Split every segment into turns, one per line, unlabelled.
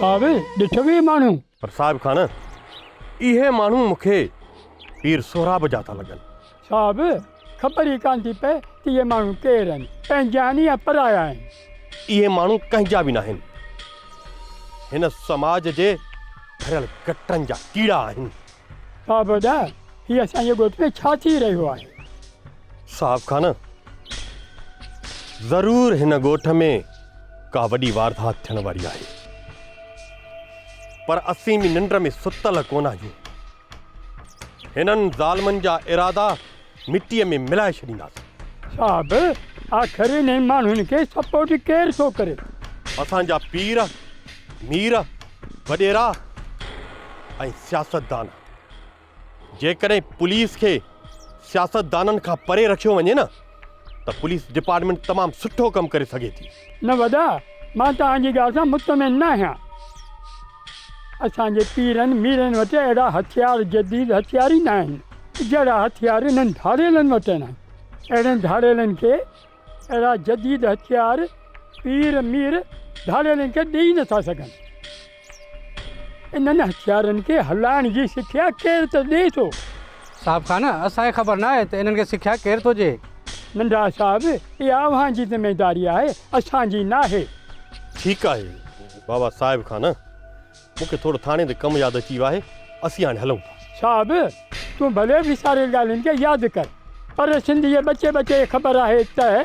صاحب ڏٺ به ماڻهو پر صاحب خان
اهي ماڻهو مونکي پير سهراب جا ٿا لڳن ڇا به
خبر ئي ڪانه ٿي پئي ته اهي ماڻهو ڪير آهن، پنهنجا آهن يا پرايا آهن. اهي ماڻهو
ڪنهن جا به ناهن، هن سماج جي ڀريل گٽرن جا ڪيڙا آهن. صاحب ادا،
هي اسان جي ڳوٺ ۾ ڇا ٿي رهيو آهي؟ صاحب
خان، ضرور هن ڳوٺ ۾ ڪا وڏي واردات ٿيڻ واري آهي، پر اسين به ننڊ ۾ ستل ڪونه آهيون. هنن ظالمن جا ارادا مٽيء ۾ ملائي ڇڏينداسين. صاحب!
آخر انهن ماڻهن کي سپورٽ ڪير ٿو ڪري؟ اسان جا
پير، مير، وڏيرا ۽ سياستدان. جيڪڏهن پوليس کي سياستدانن کان پري رکيو وڃي نه. ته پوليس ڊپارٽمينٽ تمام سٺو ڪم ڪري سگهي ٿي. نه وڏا،
مان توهان جي ڳالهه سان مطمئن نه آهيان. اسان جي پيرن ميرن وٽ اهڙا هٿيار جديد هٿيار ئي نه آهن، جهڙا هٿيار انهن ڌاڙيلن وٽ آهن. اهڙن ڌاڙيلن کي اهڙا جديد هٿيار پير مير ڌاڙيلن کي ڏيئي نه ٿا سگهن. انهن هٿيارن کي هلائڻ جي سکيا ڪير ته ڏئي ٿو؟ صاحب خان،
اسان کي خبر ناهي ته انهن کي سکيا ڪير ٿو ڏئي. ننڍڙا صاحب،
اها اوهان جي ذميداري آهي، اسان جي ناهي. ٺيڪ آهي
بابا. صاحب خان، مون کي ٿورو ٿاڻي تي ڪم ياد اچي ويو آهي، اسين هاڻي هلون ٿا. صاحب،
تون ڀلي وساريل ڳالهين کي ياد ڪر، پر سنڌ جي ٻچي ٻچي کي خبر آهي ته.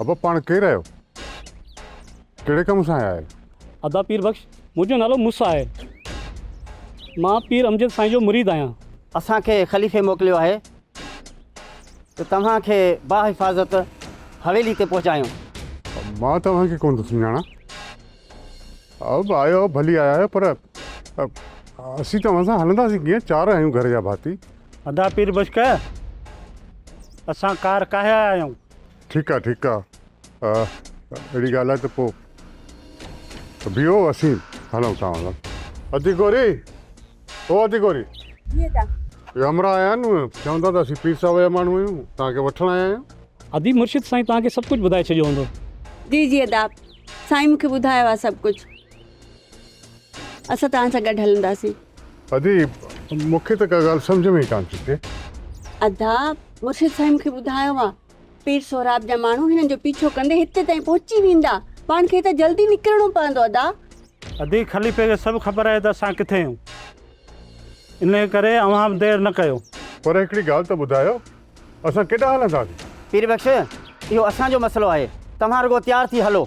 ابا پاڻ ڪير آهيو؟ ڪهڙي ڪم سان آيا آهيو؟ ادا پير بخش
منهنجو نالو مس آهي. مان پير امجد سائين جو مريد آهيان. اسان کي خليفي
موڪليو آهي ته توهان کي باحفاظت حويلي تي پهچايون. مان
توهان کي ڪونه ٿو سڃاڻان. آيو ڀلي آيا آهيو پر اسين توهان سان هلنداسين ڪيئن؟ چار آهيون گهر جا ڀاتي. ادا پير بشڪ
اسان ڪار ڪاهي آيا آهيون ٺيڪ آ ٺيڪ آ
اهڙي ڳالهه آهي ته پو بيهو اسين هلون ٿا هلون ادي گوري او ادي گوري جي ادا يا همرا آيا آهن چوندا ته اسين پير صاحب جا ماڻهو آهيون توهان کي وٺڻ آيا آهيون ادي مرشد سائين
توهان کي سڀ ڪجهه ٻڌائي ڇڏيو هوندو جي جي ادا
سائين مون کي ٻڌايو آهي سڀ ڪجهه اسان توهان سان گڏ هلنداسين. ادي،
مون کي ته ڪا ڳالهه سمجهه ۾ ئي ڪانه ٿي اچي. ادا،
مرشد سائين مون کي ٻڌايو آهي، پير سهراب جا ماڻهو هنن جو پيڇو ڪندي هتي تائين پهچي ويندا. پاڻ کي هتان جلدي نڪرڻو پوندو ادا. ادي، خليفي
کي سڀ خبر آهي ته اسان ڪٿي آهيون. انهيء ڪري اوهان به دير نه ڪيو. پر هڪڙي ڳالهه ته
ٻڌايو، اسان ڪيڏانهن هلنداسين؟ پير بخش،
اهو اسان جو مسئلو آهي. توهان رڳو تيار ٿي هلو.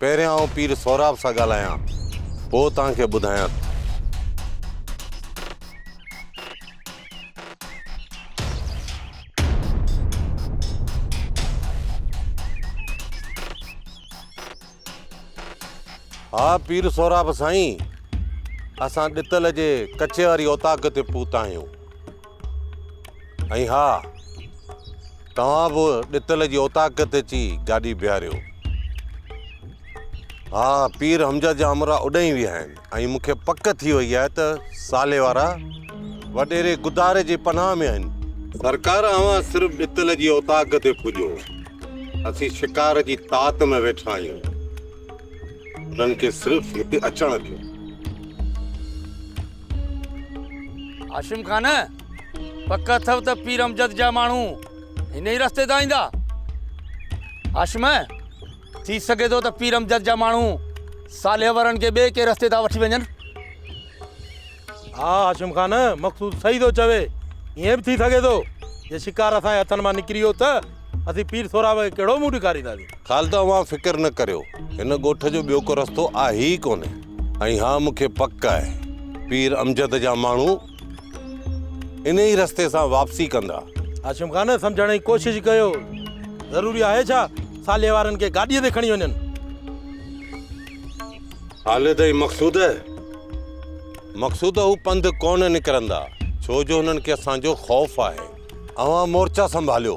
پهريان آئون پير سهراب سان ڳالهايان، پوء توهان کي ٻڌايان ٿو. ها پير سهراب سائين، اسان ڏتل جي ڪچي واري اوطاق تي پهتا آهيون. ۽ ها، توهان به ڏتل جي اوطاق تي اچي گاڏي بيهاريو. ها، پير حمزه جا امرا اڏهين ويا آهن ۽ مون کي پڪ ٿي وئي آهي ته سالي وارا وڏيري گداري جي پناهه ۾ آهن. سرڪار اوهان صرف ڏتل جي اوطاق تي پڄو، اسين شڪار جي تات ۾ ويٺا آهيون، انهن کي صرف هتي اچڻ ڏيو.
هاشم خان پڪ اٿو ته پير امجد جا ماڻهو هن ئي رستي تان ايندا هاشم ٿي سگهي ٿو ته پير امجد جا ماڻهو صالح ورن کي ٻئي ڪنهن رستي تان وٺي وڃن ها هاشم خان مقصود صحيح ٿو چوي ائين به ٿي سگهي ٿو جي شڪار اسان جي هٿن مان نڪري ويو ته اسين پير سهراب کي ڪهڙو منهن ڏيکارينداسين خالده اوهان فڪر
نه ڪريو هن ڳوٺ جو ٻيو ڪو رستو آهي ئي ڪونهي ۽ اها مون کي پڪ آهي پير امجد جا ماڻهو انهي رستي سان واپسي ڪندا. هاشم خان
سمجهڻ جي ڪوشش ڪيو، ضروري آهي ڇا صالح وارن کي گاڏيء تي کڻي وڃن؟ خالد
۽ مقصود، مقصود هو پنڌ ڪونه نڪرندا، ڇو جو هنن کي اسان جو خوف آهي. اوهان مورچا سنڀاليو.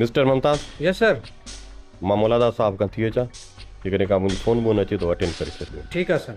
مسٽر ممتاز يس سر
مان مولاداد
صاحب کان ٿي اچان جيڪڏهن ڪا منهنجي فون بون اچي ته اٽينڊ ڪري ڇڏجو ٺيڪ آهي سر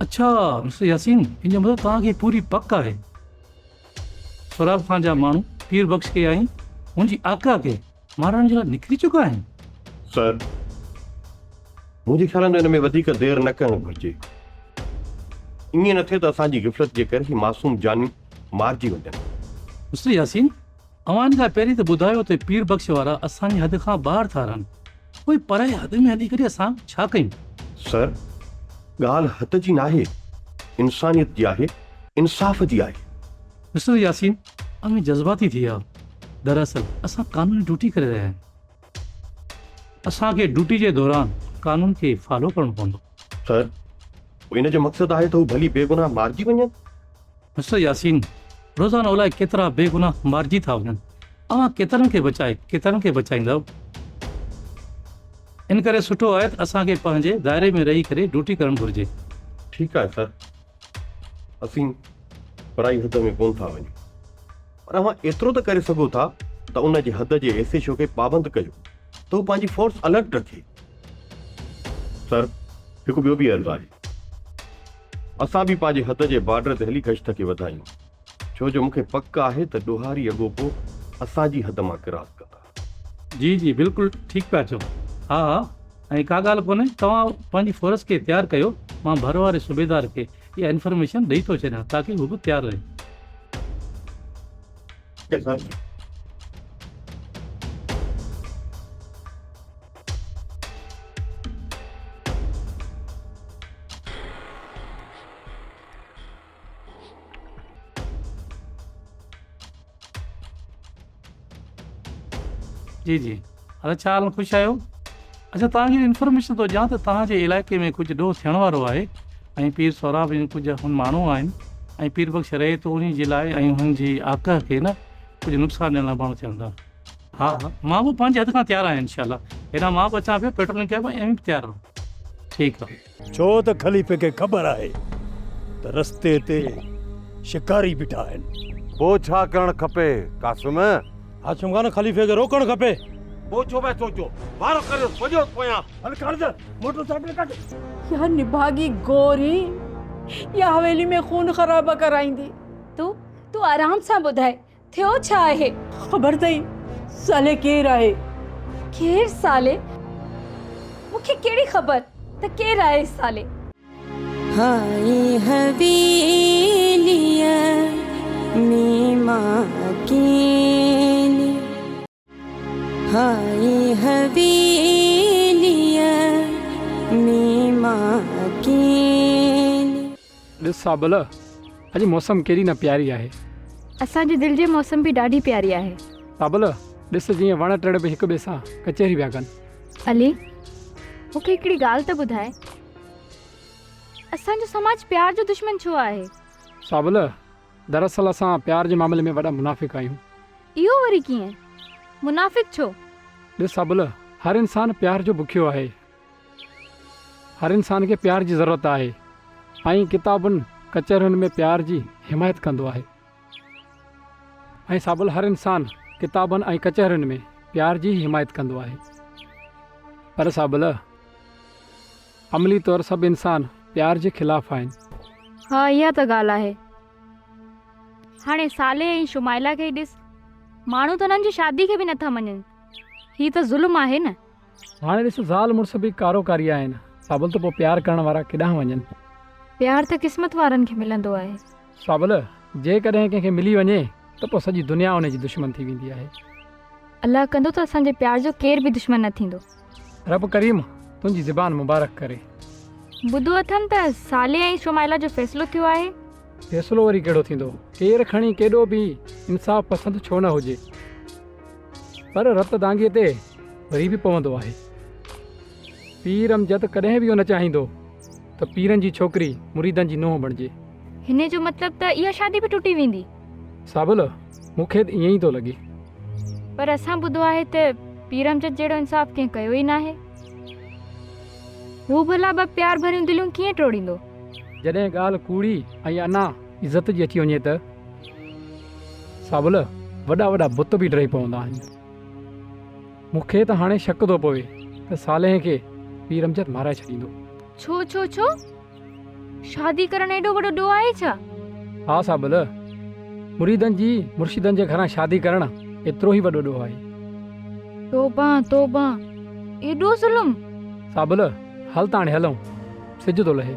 اڇا مسٽر ياسين ان جو مطلب توهان کي پوري پڪ آهي سهراب خان جا ماڻهو پير بخش کي ۽ هن جي آقا کي مارڻ جي لاء نڪري چڪا آهن. سر،
منهنجي خيال ۾ ان ۾ وڌيڪ دير نه ڪرڻ گهرجي. ائين نه ٿئي ته اسان جي غفلت جي ڪري هي معصوم جانيون مارجي وڃن. مسٽر ياسين،
اوهان ان لاء پهرين ته ٻڌايو ته پير بخش وارا اسان جي حد کان ٻاهر ٿا رهن، پوء پرائي حد ۾ هلي ڪري اسان ڇا ڪيون؟ سر،
ڳالهه حد جي ناهي، انسانيت جي آهي، انصاف جي آهي. مسٽر ياسين
اوهين جذباتي ٿي ويا آهيو دراصل اسان قانوني ڊيوٽي ڪري رهيا آهيون اسان کي ڊيوٽي جي دوران قانون کي فالو ڪرڻو پوندو. سر
پوء ان جو مقصد آهي ته هو ڀلي بيگناهه مارجي وڃن؟ مسٽر
ياسين روزانو الائي ڪيترا بيگناهه مارجي ٿا وڃن اوهان ڪيترن کي بچائي ڪيترن کي بچائيندؤ ان ڪري سٺو آهي ته اسان کي پنهنجي دائري ۾ رهي ڪري ڊيوٽي ڪرڻ گهرجي. ٺيڪ آهي سر
اسين پرائي حد ۾ ڪونه ٿا وڃون پر اوهان ايترو ته ڪري سگهو ٿا ته ان جي حد جي ايس ايڇ او کي پابند ڪيو ته هو پنهنجي فورس الرٽ رکي. سر هڪ ٻيو به عرض آهي اسان به پنهنجي حد جي بارڊر تي هلي گشت کي وڌايون ڇو جو مونکي پڪ آهي ته ڏوهاري اڳوپو اسان جي حد مان ڪراس ڪندا. جي جي بلڪل
ٺيڪ پيا چئو. ها ها ۽ ڪا ڳالهه ڪونهي توهان پنهنجي فورس کي تيار ڪيو مان ڀر واري صوبيدار کي اها انفرميشن ڏئي ٿو ڇڏيان تاڪي هو به تيار رهي. Okay sir. جي جي هر چار ۾ خوش آهيو اچھا توهان کي انفارميشن ٿو ڏيان ته توهان جي علائقي ۾ ڪجهه ڏوهه ٿيڻ وارو آهي ۽ پير سهراب جون ڪجهه هن ماڻهو آهن ۽ پير بخش رهي ٿو انهي جي لاء ۽ هن جي آقا کي نه ڪجهه نقصان ڏيڻ لاء ماڻهو ٿيڻ ٿا ها ها مان به پنهنجي حد کان تيار آهيان انشاء الله هيڏانهن مان به اچان پيو پيٽرولنگ ڪيا پيو ۽ اوهين به تيار رهو ٺيڪ آهي ڇو ته خليفي کي
خبر آهي ته رستي تي شڪاري بيٺا آهن. پوء ڇا ڪرڻ
کپي قاسم؟ قاسم خان،
خليفي کي روڪڻ کپي. پوء ڇو پيا
سوچو؟ وارو ڪريوس ڀڄيوس پويان. هل خالد،
موٽر سائيڪل ڪڍ. يا نڀاڳي
گوري يا حويلي ۾ خون خرابا ڪرائيندي. تون تون
آرام سان ٻڌاء. ٿيو ڇا آهي؟ خبر اٿئي
صالح ڪير آهي؟ ڪير
صالح؟ مون کي ڪهڙي خبر ته ڪير آهي صالح؟ هائي
حويليء ۾ مان اڪيلي. هائي حويليء ۾ مان اڪيلي. ڏس سابل
اڄ موسم ڪيڏي نه پياري آهي. اسان جي دل
جي موسم به ڏاڍي پياري آهي. سابل
ڏس جيئن وڻ ٽڻ به هڪ ٻئي سان ڪچهري پيا ڪن. علي
مون کي هڪڙي ڳالهه ته ٻڌاء اسان جو سماج پيار جو دشمن ڇو آهي؟ سابل
دراصل اسان پيار جي معاملي ۾ وڏا منافق آهيون. اهو وري
ڪيئن؟ منافق ڇو؟ ڏس ابله،
هر انسان پيار جو بکيو آهي. هر انسان کي پيار جي ضرورت آهي. آئين ڪتابن، ڪچهرين ۾ پيار جي حمايت ڪندو آهي. ۽ سابل هر انسان ڪتابن ۽ ڪچهرين ۾ پيار جي ئي حمايت ڪندو آهي. پر سابل! عملي طور سڀ انسان پيار جي خلاف آهن. ها اها
ته ڳالهه آهي. هاڻي صالح ۽ شمائلا کي ئي ڏس. ماڻهو ته انهن جي شادي کي به نه ٿا مڃن. هي ته ظلم آهي نه. هاڻي ڏس زال
مڙس به ڪارو ڪاري آهن. صابل ته پوء پيار ڪرڻ وارا ڪيڏانهن وڃن. پيار ته
قسمت وارن کي ملندو آهي. صابل
جيڪڏهن ڪنهن کي ملي وڃي ته پوء سڄي دنيا ان جي دشمن ٿي ويندي آهي. الله
ڪندو ته اسان جي پيار جو ڪير به دشمن نه ٿيندو. رب ڪريم
تنهنجي زبان مبارڪ ڪري. ٻڌو
اٿم ته صالح ۽ شمائلا جو فيصلو ٿيو آهي. فيصلو وري
ڪهڙو ٿيندو؟ ڪير کڻي ڪيڏو به انصاف پسند ڇو نه هجي پر رت دانگي تي وري به پوندو آهي. پير امجد ڪڏهن به اهو نه چاهيندو ته پيرن جي ڇوڪري مريدن جي نونهن بڻجي. هن جو مطلب
ته اها شادي به ٽٽي ويندي. سابل
مون کي به ائين ئي ٿو لڳي. پر اسان
ٻڌو آهي ته پير امجد جهڙو انصاف ڪنهن ڪيو ئي ناهي. هو ڀلا ٻه پيار ڀريون دليون ڪيئن ٽوڙيندو؟ جڏهن ڳالهه
ڪوڙي ۽ انا عزت جي اچي وڃي ته ساول وڏا وڏا بت به ڊهي پوندا آهن. مون کي ته هاڻي شڪ ٿو پوي ته صالحين کي پير امجد مارائي ڇڏيندو. ڇو ڇو ڇو؟
شادي ڪرڻ ايڏو وڏو ڏوهه آهي ڇا؟ ها صابل،
مريدن جي مرشدن جي گهران شادي ڪرڻ ايترو ئي وڏو ڏوهه آهي. توبه
توبه، ايڏو ظلم! صابل،
هل ته هاڻي هلون، سج ٿو لهي.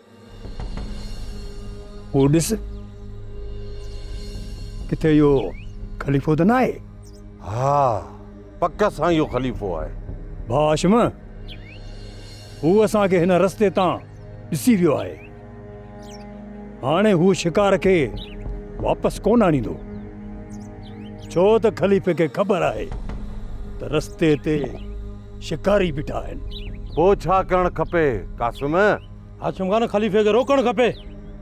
هو ڏس، ڪٿي اهو خليفو ته ناهي؟ ها،
پڪ سان اهو خليفو آهي. ڀاء هاشم،
هو اسان کي هن رستي تان ڏسي ويو آهي. هاڻي هو شڪار کي واپس ڪونه آڻيندو. ڇو ته خليفي کي خبر آهي ته رستي تي شڪاري بيٺا آهن. پوء ڇا ڪرڻ
کپي قاسم؟ هاشم خان
خليفي کي روڪڻ کپي.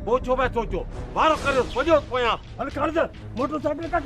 پوء ڇو پيا سوچو.
وارو ڪريوس ڀڄيوس پويان. هل خالد
موٽر سائيڪل ڪڍ.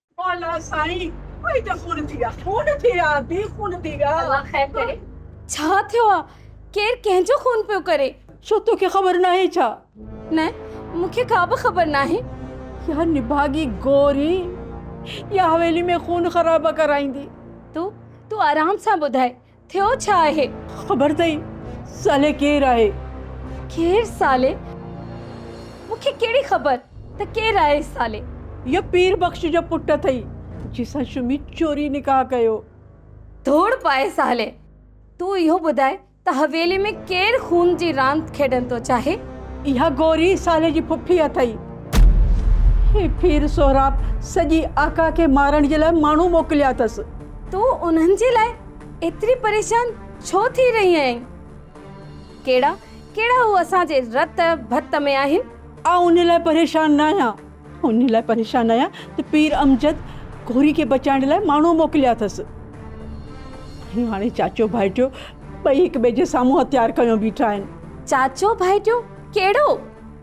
مولا سائين ٻئي ته خون ٿي ويا. خون
ٿي ويا بي خون ٿي ويا. الله خير ڪري. ڇا ٿيو آ ڪير ڪنهن جو خون پيو ڪري. ڇو توکي خبر
ناهي ڇا. نه
مون کي ڪا به خبر ناهي. يا
نڀاڳي گوري يا حويلي ۾ خون خرابا ڪرائيندي. تون تون
آرام سان ٻڌاء. ٿيو ڇا آهي؟ خبر اٿئي
صالح ڪير آهي؟ ڪير
صالح؟ مون کي ڪهڙي خبر ته ڪير آهي صالح؟ اهو پير
بخش جو پٽ اٿئي، جنهن سان شمي چوري نڪاح ڪيو. ڌوڙ
پائي صالح! تون اهو ٻڌاء ته حويلي ۾ ڪير خون جي راند کيڏڻ ٿو چاهي؟ اها گوري
صالح جي ڦڦي اٿئي. هي پير سهراب سڄي آقا کي مارڻ جي لاء ماڻهو موڪليا اٿس. تون انهن
جي لاء ايتري پريشان ڇو ٿي رهي آهين؟ ڪهڙا ڪهڙا هو اسان جي رت ڀت ۾ آهن؟ آئون انهن لاء
پريشان نه آهيان. آئون انهن لاء پريشان آهيان ته پير امجد گوري کي بچائڻ لاء ماڻهو موڪليا اٿس. ۽ هاڻي چاچو ڀائٽيو ٻئي هڪ ٻئي جي سامهون هٿيار کنيو بيٺا آهن. چاچو ڀائٽيو
ڪهڙو؟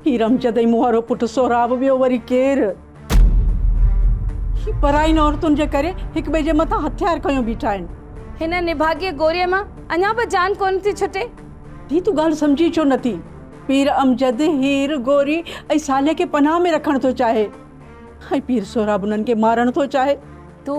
پير امجد
۽ مون وارو پٽ سهراب ٻيو وري ڪير؟ پراين عورتن جي ڪري هڪ ٻئي جي مٿان هٿيار کنيو بيٺا آهن. هن نڀاڳي
گوريء مان اڃا به جان ڪونه ٿي ڇٽي. ڌيء تون ڳالهه
سمجهين ڇو نه ٿي. پير امجد هير، گوري ۽ صالح کي پناهه ۾ رکڻ ٿو چاهي ۽ پير سهراب انهن کي مارڻ ٿو چاهي. تون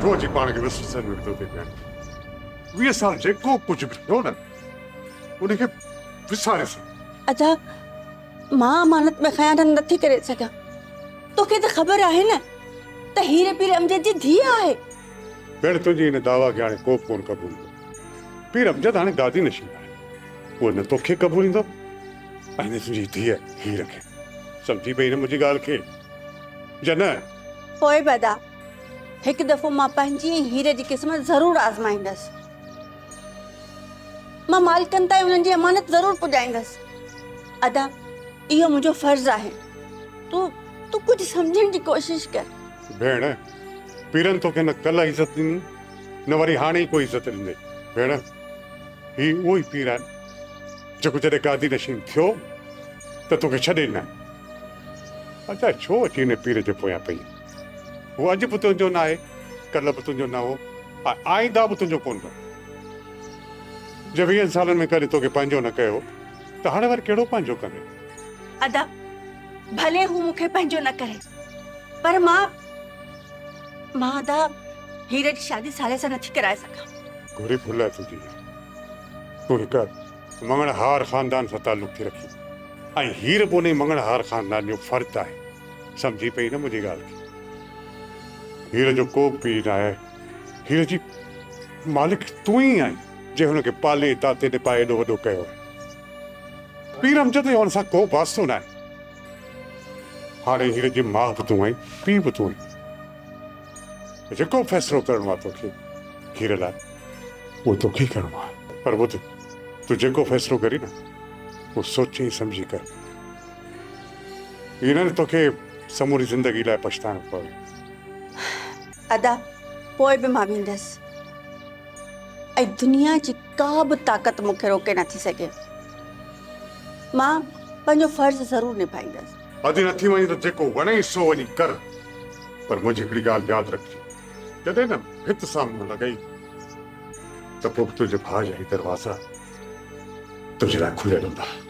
ڇو جي پاڻ کي وسري سڏيو ڪيو ٿي پيان ويهه سال جيڪو ڪجهه به ٿيو نه ان کي وساري سڏ ادا
مان امانت ۾ خيانت نٿي ڪري سگهان توکي ته خبر آهي نه ته هير پير امجد جي ڌيء آهي ڀيڻ تنهنجي
ان دعويٰ کي هاڻي ڪوبه ڪونه قبول ڪندو پير امجد هاڻي گادي نشين آهي، هو نه توکي قبوليندو ۽ نه تنهنجي ڌيء هير کي. سمجهي پئي نه منهنجي ڳالهه کي؟ جنهن. پوء به ادا،
هڪ دفعو مان پنهنجي ۽ هير جي قسمت ضرور آزمائيندس. مان مالڪن تائين انهن جي امانت ضرور پڄائيندس. ادا، اهو منهنجو فرض آهي. تون، تون ڪجهه سمجهڻ جي ڪوشش ڪر. ڀيڻ،
پيرن توکي نه ڪلهه عزت ڏني. نه وري هاڻي ئي ڪوئي عزت ڏني. ڀيڻ، هي اهو ئي پير آهن، جيڪو جڏهن گادي نشين ٿيو ته توکي ڇڏي ڏنائين. ادا ڇو اچي ان پير جي پويان پئين؟ هو اڄ به تنهنجو نه آهي، ڪلهه به تنهنجو نه هو ۽ آئنده به تنهنجو ڪونه رهندو. جي ويهن سالن ۾ ڪڏهن توکي پنهنجو نه ڪيو هو ته هاڻي وري ڪهڙو پنهنجو ڪندين؟ ادا!
ڀلي هو مون کي پنهنجو نه ڪري پر مان مان ادا هير جي شادي ساڙي سان نٿي ڪرائي سگهان. گهري ڦل اٿ
جي تون هڪ مڱڻ هار خاندان سان تعلق ٿي رکين ۽ هير به انهي مڱڻ هار خاندان جو فرد آهي سمجهي پئي نه منهنجي ڳالهه کي هير جو ڪوبه پيء ناهي هير جي مالڪ تون ئي آهين جنهن هن کي پالي تاتي نپائي ايڏو وڏو ڪيو آهي. پيرم جتي هئن سان ڪو واسطو ناهي. هاڻي هيء جي ماء به تون آهين، پيء به تون آهين. جيڪو فيصلو ڪرڻو آهي توکي هير لاء، اهو توکي ئي ڪرڻو آهي. پر ٻڌ، تون جيڪو فيصلو ڪرين نه، اهو سوچي سمجهي ڪر. ائين نه ته توکي سموري زندگي لاء پڇتائڻو پوي.
ادا، پوء به مان ويندس ۽ دنيا جي. ڪا به طاقت مون کي روڪي نٿي سگهي. مان پنهنجو فرض ضرور نڀائيندس. اڌ نٿي وڃي ته
جيڪو وڻئي سو وڃي ڪر. پر منهنجي هڪڙي ڳالهه ياد رکجي. جڏهن نه ڀت سان منهن لڳئي ته پوء به تنهنجي ڀاء جا هي دروازا تنهنجي لاء کليل هوندا.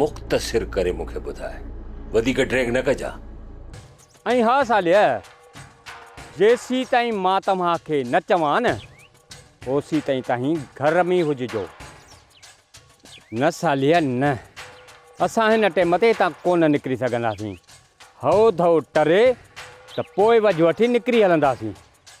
مختصر ڪري مون کي ٻڌاء. وڌيڪ ڊريگ نه ڪجان. ۽
ها ساليه! جيسيتائين مان توهان کي نه چوان نه، اوسيتائين توهين گهر ۾ ئي هججو. نه ساليه نه، اسان هن ٽيم تي هتان ڪونه نڪري سگهنداسين. هئو ڌئو ٽري ته پوء وجهه وٺي نڪري هلنداسين.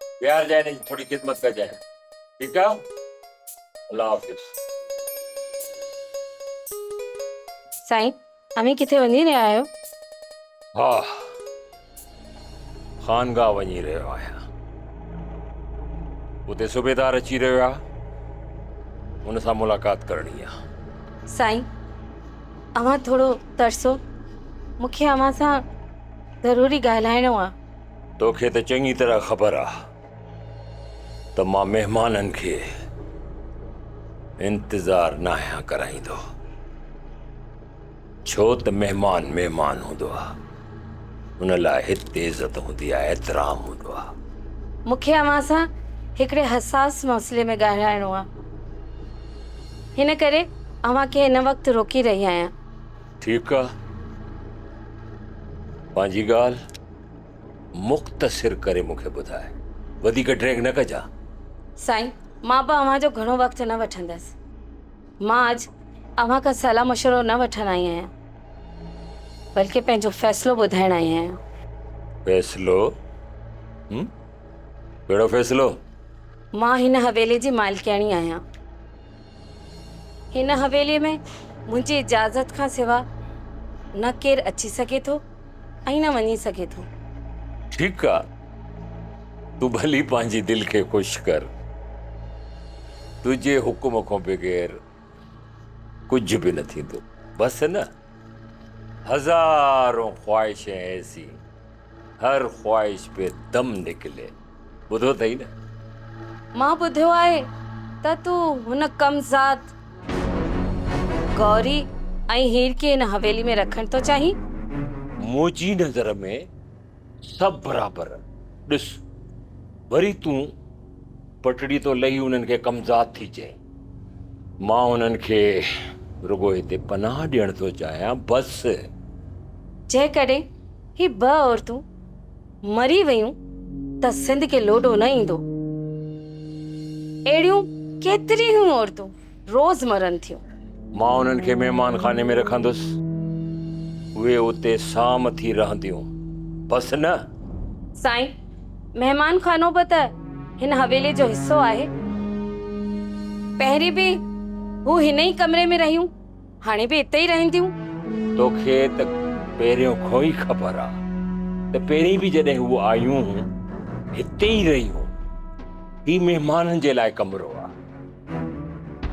ويھارجانء ھن جي ٿوري خدمت ڪجانء ٺيڪ آ الله حافظ.
سائين اوھين ڪٿي وڃي رھيا آھيو؟ ھا
خانگاھ وڃي رھيو آھيان اتي صوبيدار اچي رھيو آ ھن سان ملاقات ڪرڻي آ. سائين
اوھان ٿورو ترسو مونکي اوھان سان ضروري ڳالھائڻو آ. توکي ته چڱي
طرح خبر آ ته مان مهمانن کي انتظار ناهيان ڪرائيندو ڇو ته مهمان مهمان هوندو آ ان لاء هتي عزت هوندي آ احترام هوندو آ مون کي اوهان
سان هڪڙي حساس مسئلي ۾ ڳالهائڻو آ هن ڪري اوهان کي هن وقت روڪي رهي آهيان ٺيڪ آ
پنهنجي ڳالهه مختصر ڪري مون کي ٻڌاء. وڌيڪ ڊريگ نه ڪجان. سائين
مان به اوهان جو گهڻو وقت نه وٺندس. مان اڄ اوهان کان صلاح مشورو نه وٺڻ آئي آهيان. بلڪه پنهنجو فيصلو ٻڌائڻ آئي آهيان. فيصلو؟
هم؟ ڪهڙو فيصلو؟ مان
هن حويلي جي مالڪياڻي آهيان. هن حويليء ۾ منهنجي اجازت کان سوا نه ڪير اچي سگهي ٿو ۽ نه وڃي سگهي ٿو. ٺيڪ آ،
تون ڀلي پنهنجي دل کي خوش ڪر. تنهنجي حڪم کان بغير ڪجهه به نه ٿيندو. بس نه، هزارون خواهشين ايسي. هر خواهش پي دم نڪلي. ٻڌو اٿئي نه؟ مان
ٻڌيو آهي ته تون هن ڪم ذات گوري ۽ هير کي هن حويلي ۾ رکڻ ٿو چاهين؟ منهنجي
نظر ۾ سڀ برابر. ڏس، وري تون پٽڙي تون لهي انهن کي ڪم ذات ٿي چئين. مان انهن کي رڳو هتي پناهه ڏيڻ ٿو چاهيان بس.
جيڪڏهن هي ٻه عورتون مري ويون ته سنڌ کي لوڏو نه ايندو. اهڙيون ڪيتريون ئي عورتون روز مرن ٿيون. مان انهن کي
مهمان خاني ۾ رکندس. اهي اتي سام ٿي رهنديون بس نه. سائين!
مهمان خانو به ته هن حويلي جو حصو آهي. پهرين به هو هن ئي ڪمري ۾ رهيون، هاڻي به اتي ئي رهنديون. توکي
ته پهريون کان ئي خبر آ ته پهرين به جڏهن هو آيون هون، هتي ئي رهيون. هي مهمانن جي لاء ڪمرو آ.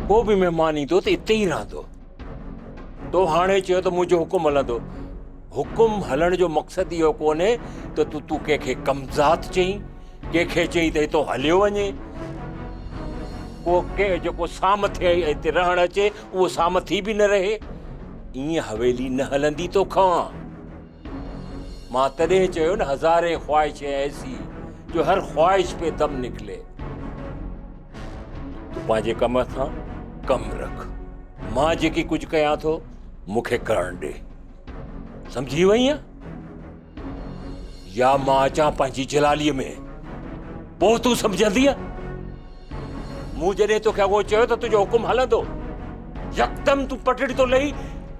ڪو به مهمان ايندو ته اتي ئي رهندو. تو هاڻي چيو ته منهنجو حڪم هلندو حڪم هلڻ جو مقصد اهو ڪونهي ته تون تون ڪنهن کي ڪمزاد چئين ڪنهن کي چئين ته هتو هليو وڃي کو ڪنهن جيڪو سام ٿئي ۽ هتي رهڻ اچي اهو سام ٿي به نه رهي ائين حويلي نه هلندي توکان مان تڏهن چيو نه هزارين خواهشين ايسي جو هر خواهش پي دم نڪلي تو پنهنجي ڪم سان ڪم رک مان جيڪي ڪجهه ڪيان ٿو مونکي ڪرڻ ڏي سمجهي وئي آهي يا مان اچان پنهنجي جلالي ۾ پوء تون سمجهندي مون جڏهن توکي اهو چيو ته تنهنجو حڪم هلندو يڪدم تون پٽڙي تو لهي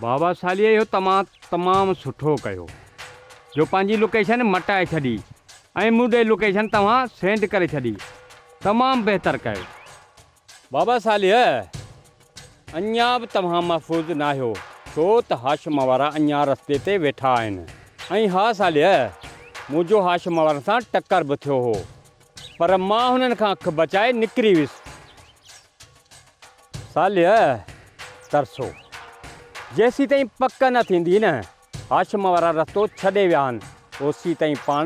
بابا ساليء اهو تمام تمام سٺو ڪيو جو پنهنجي لوڪيشن مٽائي ڇڏي ۽ مون ڏي لوڪيشن توهان سينڊ ڪري ڇڏي تمام بهتر ڪيو بابا ساليء اڃا به توهان محفوظ ناهيو ڇو ته هاشم وارا اڃا رستي تي ويٺا آهن ۽ ها ساليء منهنجو هاشم وارن سان ٽڪر به ٿيو هو پر مان هنن کان اک بچائي نڪري ويس صالح ترسو، جيسيتائين پڪ نه ٿيندي نه هاشم وارا رستو ڇڏي ويا آهن اوسيتائين پاڻ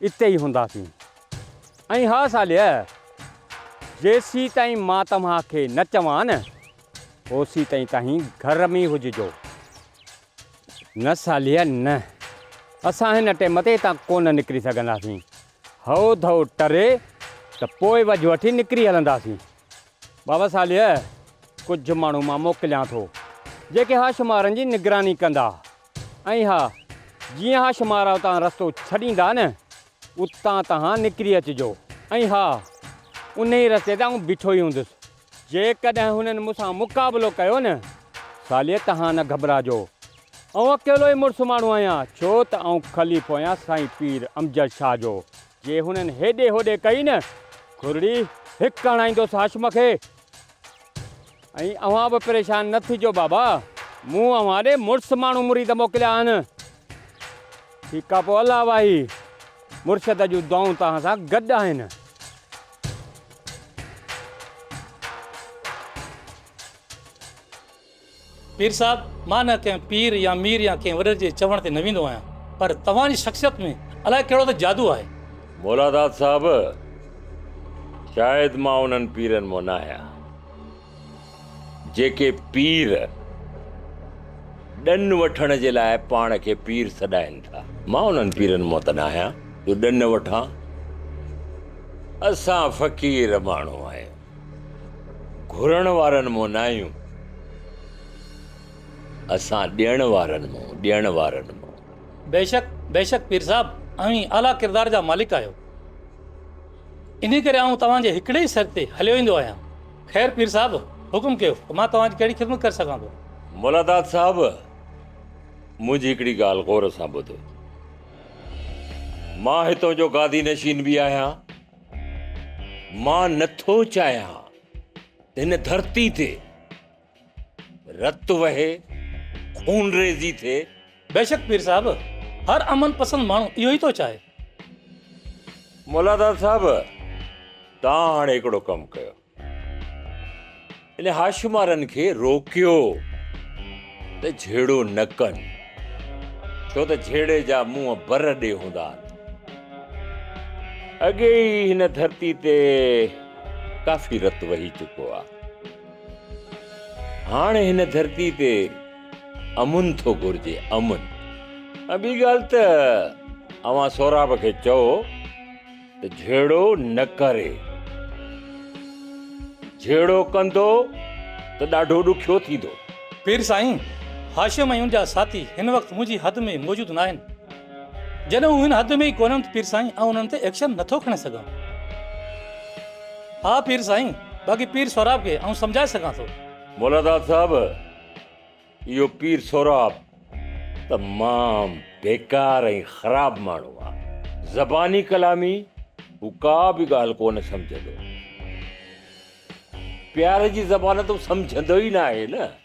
اتي ئي هونداسين. ۽ ها صالح، جيسيتائين مان توهان کي نه چوان نه اوسيتائين تهين گهر ۾ ئي هججو. نه صالح نه، اسان هن ٽيم تي هتان ڪونه نڪري سگهنداسين. هئو ڌئو ٽري ته پوء وجهه وٺي نڪري هلنداسين. بابا صالح ڪجهه ماڻهو مان موڪليان ٿو، جيڪي اها شمارن جي نگراني ڪندا ۽ ها، جيئن اها شمارا اتان رستو ڇڏيندا نه، اتان توهان نڪري اچجو ۽ ها، انهيء رستي تي آئون بيٺو ئي هوندس، جيڪڏهن هنن مون سان مقابلو ڪيو نه ساليه تهان نه گهٻراجو. آئون اڪيلو ئي مڙس ماڻهو آهيان، ڇو ته آئون خليفو آهيان سائين پير امجد شاهه جو. جي هنن هيڏي هوڏي ڪئي نه کورڙي، هڪ هڻائيندوس هاشم کي. ۽ اوهان به پريشان نه ٿجو بابا، مون اوهان ڏي مڙس ماڻهو مريد موڪليا آهن. ٺيڪ آ پوء الله واهي، مرشد جون دعائون توهان سان گڏ آهن.
پير صاحب، مان نه ڪنهن پير يا مير يا ڪنهن وڏڙي جي چوڻ تي نه ويندو آهيان، پر توهان جي شخصيت ۾ الائي ڪهڙو ته جادو آهي. مولاداد صاحب،
شايد مان انهن پيرن مان ناهيان. جيڪي پير ڏن وٺڻ جي لاء پاڻ کي پير سڏائين ٿا. مان انهن پيرن مان ته نه آهيان جو ڏن وٺان. اسان فقير ماڻهو آهيون. گهرڻ وارن مان نه آهيون. اسان ڏيڻ وارن مان، ڏيڻ وارن مان. بيشڪ
بيشڪ پير صاحب اوهين اعليٰ ڪردار جا مالڪ آهيو. انهيء ڪري آئون توهان جي هڪڙي ئي سر تي هليو ايندو آهيان. خير پير صاحب، حڪم ڪيو ته مان توهان جي ڪهڙي خدمت ڪري سگهان ٿو؟ ملا داد صاحب،
منهنجي هڪڙي ڳالهه غور سان ٻڌو. مان هتان جو گادي نشين به آهيان. مان نه ٿو چاهيان ته هن ڌرتي تي رت وهي، خونريزي ٿئي. بيشڪ پير صاحب،
هر امن پسند ماڻهو اهو ئي ٿو چاهي. مولاداد
صاحب، توهان هاڻي هڪڙو ڪم ڪيو. انهن هاشمارن کي روڪيو ته جهيڙو نه ڪن، ڇو ته جهيڙي جا منهن بر ڏي هوندا آهن. اڳي ئي هن ڌرتي تي ڪافي رت وهي چڪو آهي. هاڻ هن ڌرتي تي امن ٿو گهرجي امن ۽ ٻي ڳالهه ته اوهان سهراب کي چئو ته جهيڙو نه ڪري جهيڙو ڪندو ته ڏاڍو ڏکيو ٿيندو. پير سائين،
هاشم ۽ ان جا ساٿي هن وقت منهنجي حد ۾ موجود ناهن. جڏهن هو هن حد ۾ ئي ڪونهن ته پير سائين آئون انهن تي ايڪشن نٿو کڻي سگهان. ها پير سائين، باقي پير سهراب کي آئون سمجهائي سگهان ٿو. مولاداد صاحب،
اهو پير سهراب تمام بيڪار ۽ خراب ماڻهو آ. زباني ڪلامي هو ڪا به ڳالهه ڪونه سمجهندو. پيار جي زبان ته هو سمجهندو ئي ناهي نه.